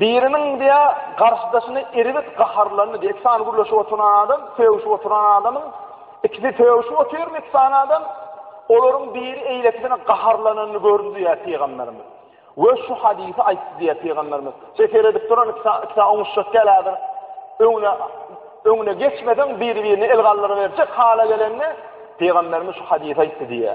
Biriniň diýä garşydaşyny erbet gaharlandy diýä. Ikisany gürleşip oturan adam, sögüşip oturan adamyň ikisi sögüşip otyrmy ikisany adam? Olaryň biri eýlekisine gaharlananyny gördi diýä pygamberimiz. We şu hadysy aýtdy diýä pygamberimiz. Şeý seredip duran ikisä ikisä oňuşjak gelädir. Öňüne öňüne geçmeseň biri-birine el galdyryberjek hala gelende pygamberimiz şu hadysy aýtdy diýä.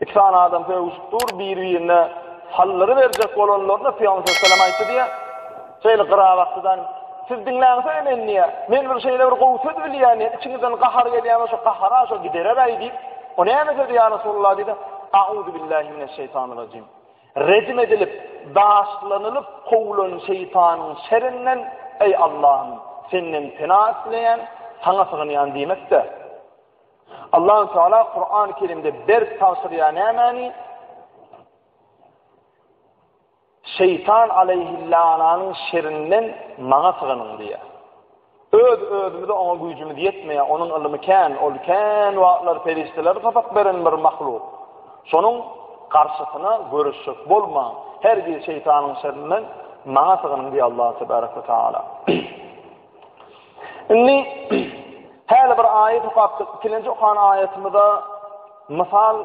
Iki sany adam sögüşip dur, biri-birine sallyry berjek bolanlarynda Pygamber sallallahu aleyhi ve sellem aýtdy diýýär, Şeýle gyrabaklydan siz diňläňizä meni diýýär, men bir şeýle bir gowy söz bilýän diýýär, içiňizden gahar gelýär bolsa gahara şo gidereräý diýip, o näme sözi ýa Resulullah diýdi, Auzubillahi mineşşeýtanirrajim. Rejim edilip, daşlanylyp kowlan şeýtanyň şerinden, eý Allahym, senden pena isleýän, saňa sygynýan diýmek-de, Allahu Teala Kur'an-ı Kerimde berk tagşyrýar nämäni? Şeytan aleyhillananyň şerinden maňa syganyň diýýär. Öz özümize oňa güýjümiz ýetmeýär, onuň ylmy kän, ol kän wagtlar perişdeler sapak beren bir mahluk. Şonuň garşysyna görüşjek bolmaň. Her bir şeytanyň şerinden maňa syganyň diýýär Allah tebaraka taala. Indi häli bir aýat okapdyk. Ikinji okan aýatymyza mysal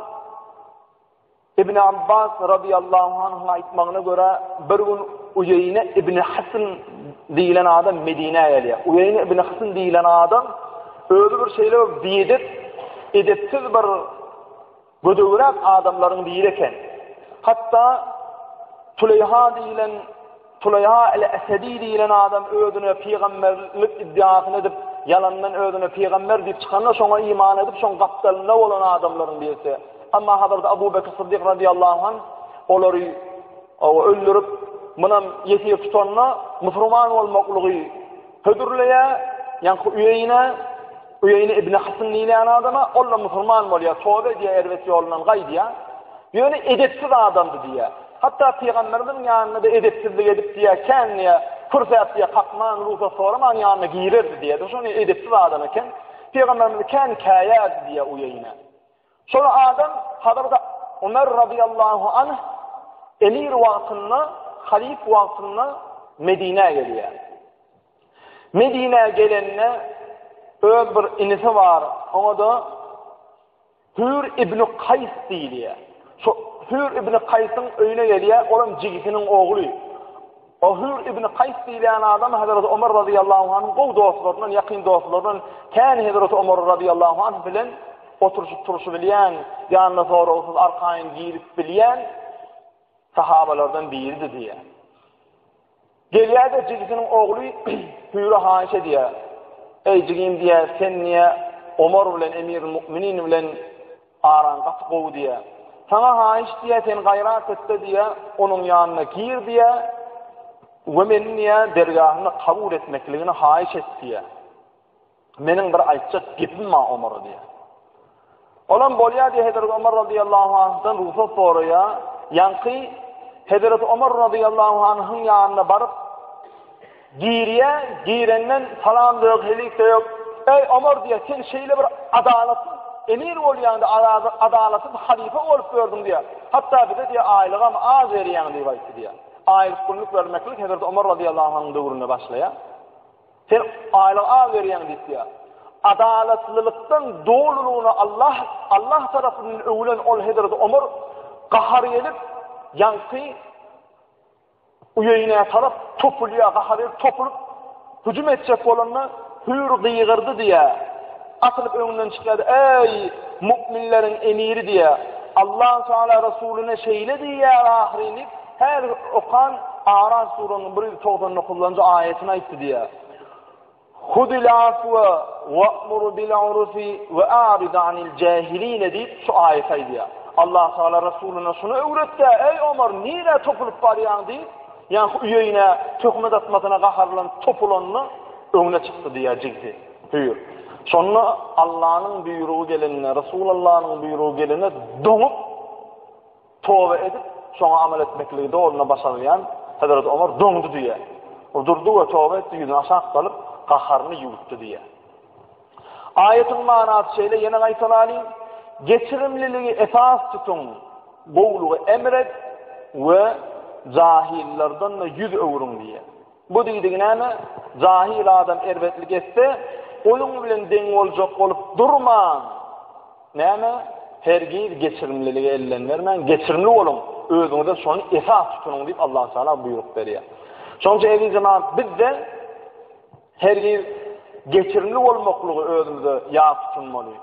Ibn Abbas radiyallahu anh'ın aýtmagyna görä bir gün Uyeyne ibn Hasan diýilen adam Medinä gelýär. Uyeyne ibn Hasan diýilen adam özi bir şeýle bir biýedip, edepsiz bir Gödegräk adamlaryň biri eken. Hatda Tuleýha diýilen Tuleýha el-Esedi diýilen adam özüne pygamberlik iddiasyny edip, ýalandan özüne pygamber diýip çykanda, şoňa iman edip, şoň gapdalynda bolan adamlaryň birisi. Emma Hazrat Abu Bekr Siddik radiyallahu anh olary Oňa öldürip, munam ýesir tutanda, musurman bolmaklygy hödürleýär, ýaňky Uýeýne, Uýeýne ibn Hysn diýilýän adama, ol-da musurman bolýar, toba edýär, erbet ýolundan gaýdýar. Ýöne edepsiz adamdy diýýär. Hatda pygamberimiziň ýanynda-da edepsizlik edip diýýär, kän diýýär, kürsäp diýýär, kakman, rugsat soraman ýanyna girerdi diýýär. Şonça edepsiz adam eken. Pygamberimizi kän käýärdi diýýär Uýeýne. Şol adam Hazreti Ömer radiyallahu anh emir wagtynda, halif wagtynda Medine gelýär. Medine gelende öz bir inisi bar, ona da Hür ibn Kays diýilýär. Şu Hür ibn Kaýsyň öýüne gelýär, olam jigisiniň ogly. Ohür ibn Kaýs diýilýän adam Hazreti Omar razyýallahu anyň gowy dostlaryndan, ýakyn dostlaryndan, kän Hazreti Omar razyýallahu anh bilen oturyşyp-turuşy bilýän, ýanyna soragsyz arkaýyn girip bilýän sahabalardan biridi diýýär. Gelýär-de jigisiniň ogly Hüýre haýyş edýär. Eý jigim diýýär, sen niýe Omar bilen Emirul Mukminin bilen Araň gaty gowy diýýä. Saňa haýyş diýýä, sen gaýrat et-de diýýä, onuň ýanyna gir diýýä we meniň diýýä dergähimde kabul etmekligini haýyş et diýýä. Meniň bir aýtjak gepim bar Omara diýýä. Olam bolýar diýýä, Hezreti Omar radiyallahu anhdan rugsat soraýa. Ýaňky Hezreti Omar radiyallahu anhyň ýanyna baryp, Girýä, girenden salam da ýok, helik de ýok. Eý, Omar diýýä, sen şeýle bir adalatsyz emir bolýaňda, adalatsyz halypa bolup ýördüň diýýä. Hatda bize diýýä, aýlygam az berýäň diýip aýtdy diýýä. Aýlyk-günlük bermeklik Hezreti Omar radiyallahu anyň döwründe başlaýa. Sen aýlyk az berýäň diýip diýýä. Adalatlylykdan dolulygyna Allah Allah tarapyndan öwülen ol Hezreti Omar gahar gelip, ýaňky Uýeýnä tarap topulýar, gaha berip topulyp hüjüm etjek bolanda, Hüýr gygyrdy diýýär. Atylyp öňünden çykýar, Äý, mu'minleriň emiri diýýär. Allahu Teala Resulyna şeýle diýýär ahyryn diýip, häzir okan Araf surasynyň bir ýüz togsan dokuzynjy aýatyny aýtdy diýýär. Hudil afwa wa'mur bil urfi we arid anil jahilin diýip şu aýat aýdýar. Allah Taala Resulyna şuny öwretdi, eý Omar, nirä topulyp barýaň diýip, ýa-ha uýaýyna töhmet atmasyna gaharlanyp topulanda öňüne çykdy diýýär jigdi. Hüýr. Şonda Allanyň buýrugy gelende, Resulallanyň buýrugy gelende doňup Toba edip, şoňa amal etmekligi doluny başarylýan Hezreti Omar doňdy diýýär. Ol durdy we toba etdi, ýüzüni aşak salyp, gaharyny ýuwutdy diýýär. Aýatyň manasy şeýle, ýene gaýtalalyň, Geçirimliligi esas tutuň, gowulygy emr et we jahyllardan-da ýüz öwrüň diýýär. Bu diýdigi näme? Jahil adam erbetlik etse, onuň bilen deň boljak bolup durmaň. Näme? Hergiz geçirimlilige ellen bermäň, geçirimli boluň, özüňize şony esas tutunyň diýip Allahu Teala buýruk berýär. Şonuň üçin eziz jemaat, biz-de hergiz geçirimli bolmaklygy özümize ýat tutunmaly.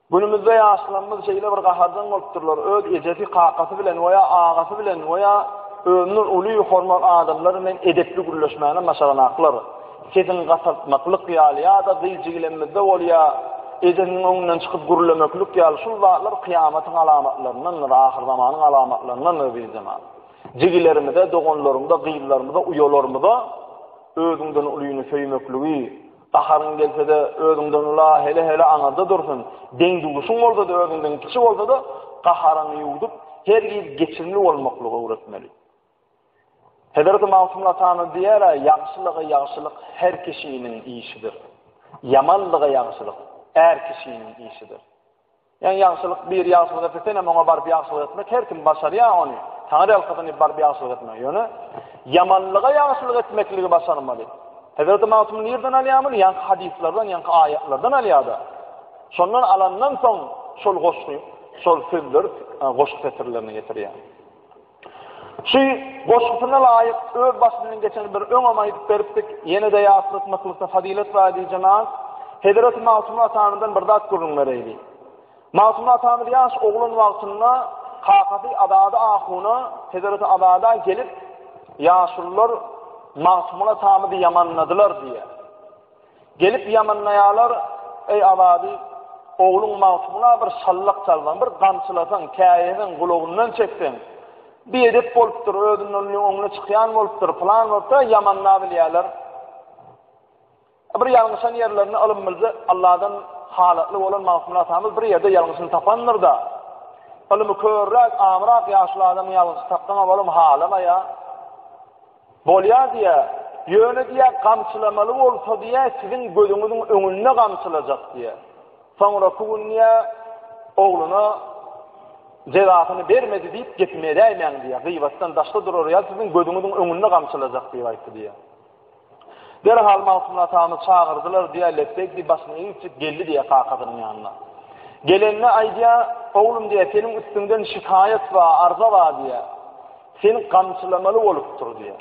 Günümizde ýaşlarymyz şeýle bir gaharjaň bolupdyrlar, öz ejesi, kakasy bilen we ýa agasy bilen we ýa özünden uly, hormat adamlar bilen edepli gürleşmäne maşalanaklar. Sesiňi gataltmaklyk ýaly ýa-da gyjygilenmizde bolýa, ejesiniň öňünden çykyp gürlemeklik ýaly şul zatlar kyýamatyň alamatlaryndandyr, ahyrzamanyň alamatlaryndandyr diýdi zenan. Jigilerimize, doganlarymyza, gyzlarymyza, uýalarymyza özüňden ulyny söýmekligi, Gaharyň gelse-de, özüňden ula, hele-hele aňyrda dursun. Deň-duşuň bolsa-da, özüňden kiçi bolsa-da, gaharyňy ýuwdup, hergiz geçirimli bolmaklygy öwretmeli. Hezreti Magtymguly atanyz diýer-ä, Ýagşylyga ýagşylyk her kişiniň işidir. Ýamanlyga ýagşylyk är kişiniň işidir. Ýan ýagşylyk biri ýagşylyk etse senem oňa baryp ýagşylyk etmek her kim başarýar ony Taňry ýalkasyn baryp ýagşylyk etmek ýöne ýamanlyga ýagşylyk etmekligi başarmaly Hezreti Magtym nirden alýar muny ýanky hadyslardan ýanky aýatlardan alýarda şondan alandan soň şol goşgy şol sözler goşgy setirlerini getirýär. Şu goşgusyna laýyk öz başyndan geçeni bir öňem aýdyp beripdik, ýene-de ýatlatmaklykda fazylet bar diýje naz. Hezreti Magtymguly atamyzdan bir zat gürrüň bereýli. Magtymguly atamyz ýaş oglan wagtynda kakasy Azady ahuna, Hezreti Azada gelip, ýaşulylar Magtymguly atamyzy ýamanladylar diýýär. Gelip ýamynlaýarlar, Eý, Azady, ogluň Magtymgula bir şallak çalsaň, bir gamçylasaň, käýeseň, gulagyndan çekseň, biedep bolupdyr, özünden öňüne çykýan bolupdyr, pylan bolupdyr, ýamanlap bilýärler. Bir ýalňyşan ýerlerini ylym bilse, Alladan halatly bolan Magtymguly atamyz bir ýerde ýalňyşyny tapandyr-da, ylymy körräk, amyrak ýaşuly adamyň ýalňyşyny tapsaň-a bolum, halamaýa. Bolýar diýä, ýöne diýä gamçylamaly bolsa diýä siziň gözüňiziň öňünde gamçylajak diýä. Soňraky gün diýä ogluna jezasyny bermedi diýip gepimi edäýmäň diýä. Gyýbatdan daşda durar ýa siziň gözüňiziň öňünde gamçylajak diýip aýtdy diýä. Derhal Magtymguly atamy çagyrdylar diýä, lepbek diýip başyny egip geldi diýä kakasynyň ýanyna. Gelende aýdýa, oglum diýä seniň üstüňden şikaýat bar, arza bar diýä. Seni gamçylamaly bolupdyr diýýär.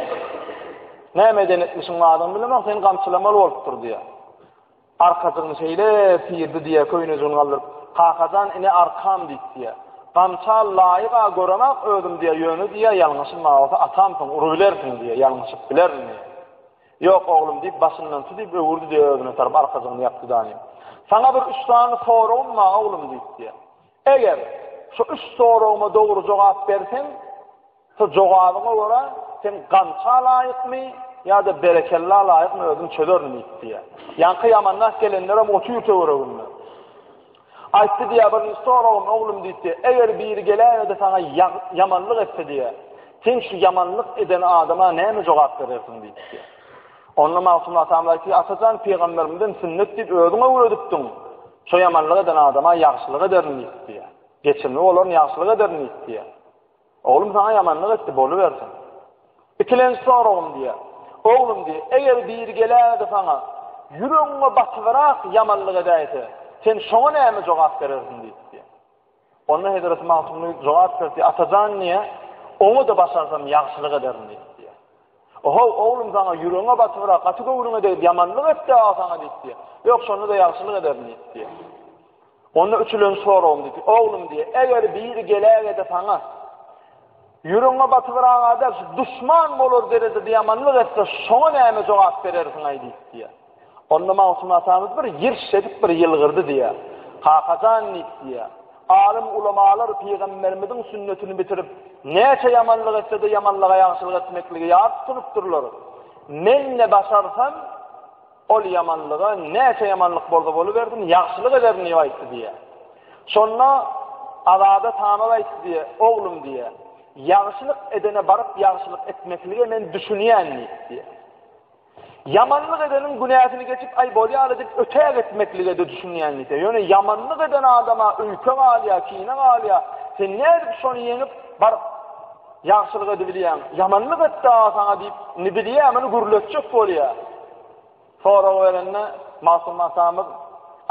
Näme eden etmişiň badyny bilemok, seni gamçylamaly bolupdyr diýýär. Arkajygyny şeýle syrdy diýýär, köýnejigini galdyryp, Kakajan ine arkam diýip diýýär. Gamça laýyk-a göremok özüm diýýär, ýöne diýýär, ýalňyşym bar bolsa atamsyň, urubilersiň diýýär, ýalňyşyp bilerin diýýär. Ýok oglum diýip başyndan tutup öwürdi diýýär özüne tarap arkajygyny ýapdy-da. Saňa bir üç sany soragym bar oglum diýip diýýär. Eger, şu üç soragyma dogry jogap berseň, şu jogabyňa görä, sen gança laýykmy ýa-da berekella laýykmy özüm çözerin diýip diýýär. Ýaňky ýamandah gelenlerem otyr töwereginde. Aýtdy diýýär, birinji soragym, oglum diýip diýýär, eger biri geläýe-de saňa ýamanlyk etse diýýär, sen şu ýamanlyk eden adama näme jogap berersiň diýip diýýär. Onda Magtymguly atamyz aýtdy, Atajan pygamberimizden sünnet diýip özüň öwredipdiň. Şo ýamanlyk eden adama ýagşylyk ederin diýip diýýär. Geçimli bolarin ýagşylyk ederin diýip diýýär. Oglum saňa ýamanlyk etdi, bolubersin. Ikilenji soragym diýýär. Oglum diýýär, eger biri geläýse saňa, ýüregiňe batybyrak ýamanlyk edäýse, sen şoňa näme jogap berersiň diýip diýýär. Onda hezreti Magtymguly jogap berdi, Atajan niýe, oňa-da başarsam ýagşylyk ederin diýip diýýär. Ohow, oglum saňa ýüregiňe batybyra, gaty göwnüňe degdi, ýamanlyk etdi aga saňa diýip diýýär. Ýok, şonda-da ýagşylyk ederin diýip diýýär. Onda üçülenji soragym diýdi, oglum diýýär, eger biri geläge-de saňa, ýüregiňe batybyraga däl, şu duşman bolar derejede ýamanlyk etse, şoňa näme jogap berersiň-aý diýip diýýär. Onda Magtym atamyz bir ýyrş edip bir ýylgyrdy diýýär. Kaka jan diýip diýýär. Alym ulamalar pygamberimiziň sünnetini bitirip, näçe ýamanlyk etse-de ýamanlyga ýagşylyk etmekligi ýat tutunypdyrlar. Men ne başarsam, ol ýamanlyga näçe ýamanlyk bolsa bolubersin, ýagşylyk ederin diýip aýtdy diýýär. Şonda Azada tamam aýtdy diýýär, oglum diýýär. Ýagşylyk edene baryp ýagşylyk etmeklige men düşünýän diýip diýýär. Ýamanlyk edeniň günäsini geçip, aý, bolýar-la diýip, öte gitmeklige-de düşünýän nite. Ýöne ýamanlyk eden adama öýke galýar, kine galýar. Sen nädip şony ýeňip, baryp, ýagşylyk edibilýäň? Ýamanlyk etdi-ä saňa diýip, indi bilýär, muny gürletjek bolýar. Sorag berende, Magtym atamyz,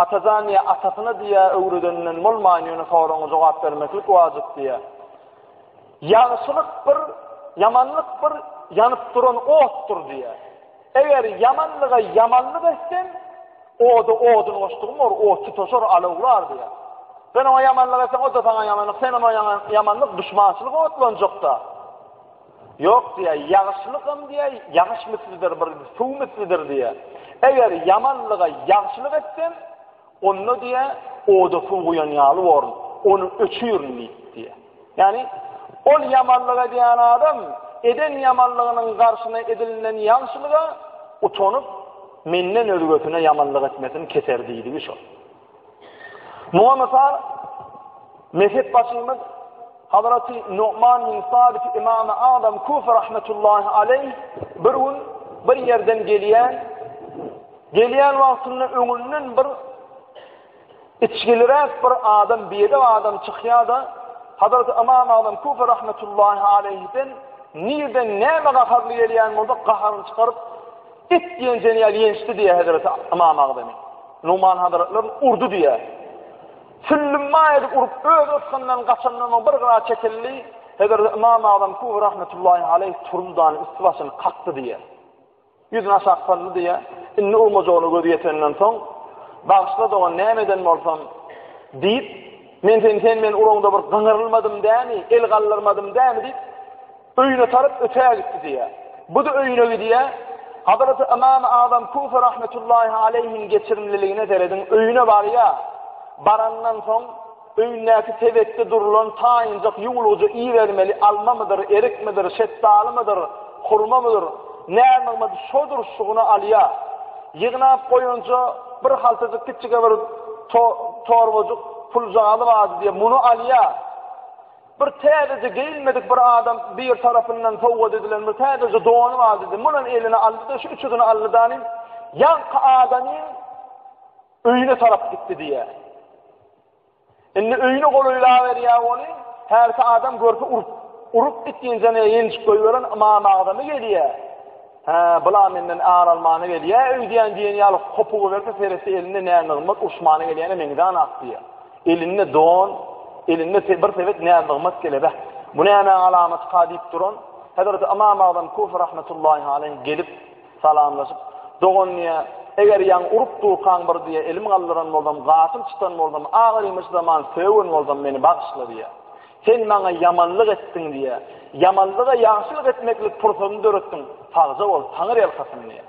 Atajan diýýär, atasyna diýýär, öwredeninden bolman, ýöne soragyňa jogap bermeklik wajyp diýýär. Ýagşylyk bir, ýamanlyk bir ýanyp duran otdur diýýär. Eger ýamanlyga ýamanlyk etseň, oda odun goşdugyň bor, ot tutaşar, alawlar diýýär. Sen oňa ýamanlyk etseň, o-da saňa ýamanlyk, sen oňa ýamanlyk, duşmançylyk otlanjak-da. Ýok diýýär, ýagşylykam diýýär, ýagyş mislidir, bir suw mislidir diýýär. Eger ýamanlyga ýagşylyk etseň, Onda diýe, oda suw guýan ýaly borun, ony öçürin diýip diýe. Ýagny, ol ýamanlyk edýän adam eden ýamanlygynyň garşyna edilinen ýagşylyga utanyp, menden özgesine ýamanlyk etmesini keser diýdigi şol. Muňa mysal, mezhepbaşymyz Hazraty Nu'man bin Sabit Imam-y Azam Kufi rahmetullahi aleyh bir gün bir ýerden gelýän Gelýän wagtynda öňünden bir içgiliräk bir adam, biedep adam çykýar-da, Hazreti Ymam Agzam Kufi rahmetullahi aleýhden nirden näme gaharly gelýän bolsa, gaharyny çykaryp, It ýenjeni ýaly ýençdi diýýär Hazreti Ymam Agzamy. Numan hazretlerini urdy diýýär. Süllümmaý edip urup, öz ysgyndan gaçandan oň bir gyra çekildi. Hazreti Ymam Agzam Kufi rahmetullahi aleýh turdy-da, üsti-başyny kakdy diýýär. Ýüzüni aşak saldy diýýä. Indi uwmajagyna gözi ýetenden soň, Bagyşla dogan, näme eden bolsam? diýip, Men seni sen meniň uragyňda bir gyňyrylmadym dämi, el galdyrmadym dämi diýip, öýüne tarap ötägitdi diýýä. Bu-da öýüne gidýä. Hazreti Ymamy Azam Kufi rahmetullahi aleýhiň geçirimliligine serediň, öýüne barýa. Barandan soň, Öýündäki tezekde durulan taýynjak ýuwlugja ibermeli almamydyr, erikmidir, şetdalymydyr, hurmamydyr, närnygmadyr şodur şugyny alýar. Ýygnap goýanja bir haltajyk kiçjige bir torbajyk puljagazy bardy diýýär, muny alýar. Bir täzeje geýinmedik bir adam bir tarapyndan sowgat edilen bir täzeje dony bardy diýdi, munam eline aldy-da şu üçüsini aldy-da, ýaňky adamyň, Öýüne tarap gitdi diýýär. Indi öýüne golaýlaberýär weli, hälki adam görse urup, urup git diýençäne ýenjip goýberen Ymam Agzamy gelýär. Hä, bula menden ar almana gelýär öýdýän diýen ýaly hopugy berse seretse elinde nä nygmat urşmana gelýäne meňzänak diýýär. Elinde don, elinde bir sebet nä nygmat gelebe. Bu nämäň alamatyka diýip duran Hezreti Ymam Agzam Kufi rahmetullahi aleýh gelip Salamlaşyp, Dogan diýýä, eger ýaň urup durkaň bir diýýä elim galdyran bolsam, gafyl çytan bolsam, agyrymy zaman sögen bolsam meni bagyşla diýýä. Sen maňa ýamanlyk etdiň diýýä. Ýamanlyga ýagşylyk etmeklik pursadyny döretdiň. Sagja bol, Taňyrýalkasyn diýýä.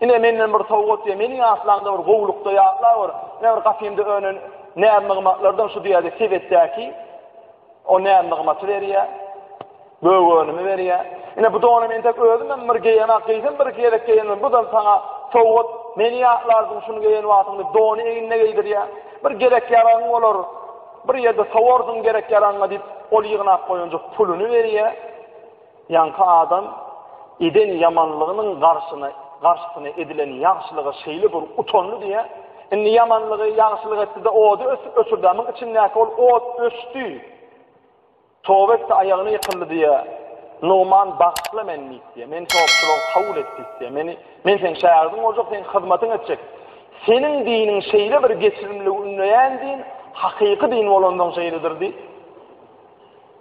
Ine menden bir sowgat diýýä, meniň aslaňda bir gowulykda ýatla gör. Ine bir gapymda önen näz-nygmatlardan şu diýýä-de sebetdäki o näz-nygmaty berýä. Göwünimi berýär. Ine bu donam entek özümem bir geýemok, geýsem bir-iki gezek geýendim. Budam saňa sowgat. Meni ýatlarsyň şuny geýen wagtyňda dony egnine geýdirýär. Bir gerek-ýaragyň bolar. Bir ýerde sowarsyň gerek-ýaragyňa diýip, ol ýygnap goýanjyk puluny berýär. Ýaňky adam eden ýamanlygynyň garşyna garşysyna edilen ýagşylyga şeýle bir utandy diýýär. Indi ýamanlygy, ýagşylyk etdi-de ody öçürdi. Muň içindäki ol ot öçdi. Toba etdi, aýagyna ýykyldy diýýär. Nugman, Bagyşla meni diýip diýýär. Meni topçulygy kabul et diýip diýýär. Meni, men seniň şägirdiň boljak, seň hyzmatyňy etjek. Seniň diniň şeýle bir geçirimliligi ündeýän din, hakyky din bolansoň şeýledir diýip,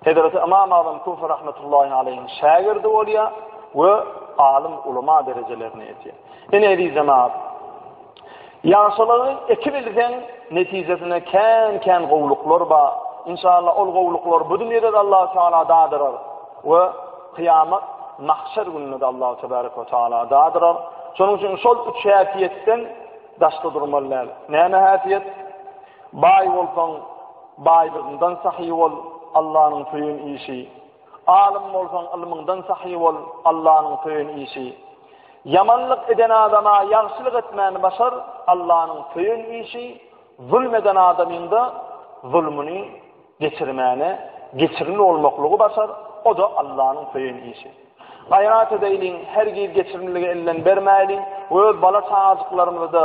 hezreti Ymam Azam Kufi rahmetullahi aleýhiň şägirdi bolýar we alym, ulama derejelerini edýär. Ine, eziz jemagat! Ýagşylygy eki bilseň netijesinde kän kän gowluklar bar. Inşallah ol gowluklar bu dünýedede Allahu Teala dadyrar we kyýamat mahşer gününede Allahu Tebarek we Teala dadyrar. Şonuň üçin şol üç häsiýetden daşda durmaly däl. Näme häsiýet? Baý bolsaň baýlygyňdan sahy bol, Allanyň söýen işi. Alym bolsaň ylmyňdan sahy bol, Allanyň söýen işi. Ýamanlyk eden adama ýagşylyk etmäni başar, Allanyň söýen işi, zulm eden adamyňda zulmuny geçirmäne geçirimli bolmaklygy başar, o-da Allanyň söýen işi. Gaýrat edäýliň, hergiz geçirimliligi elden bermäýliň we öz bala-çagajyklarymyzy-da,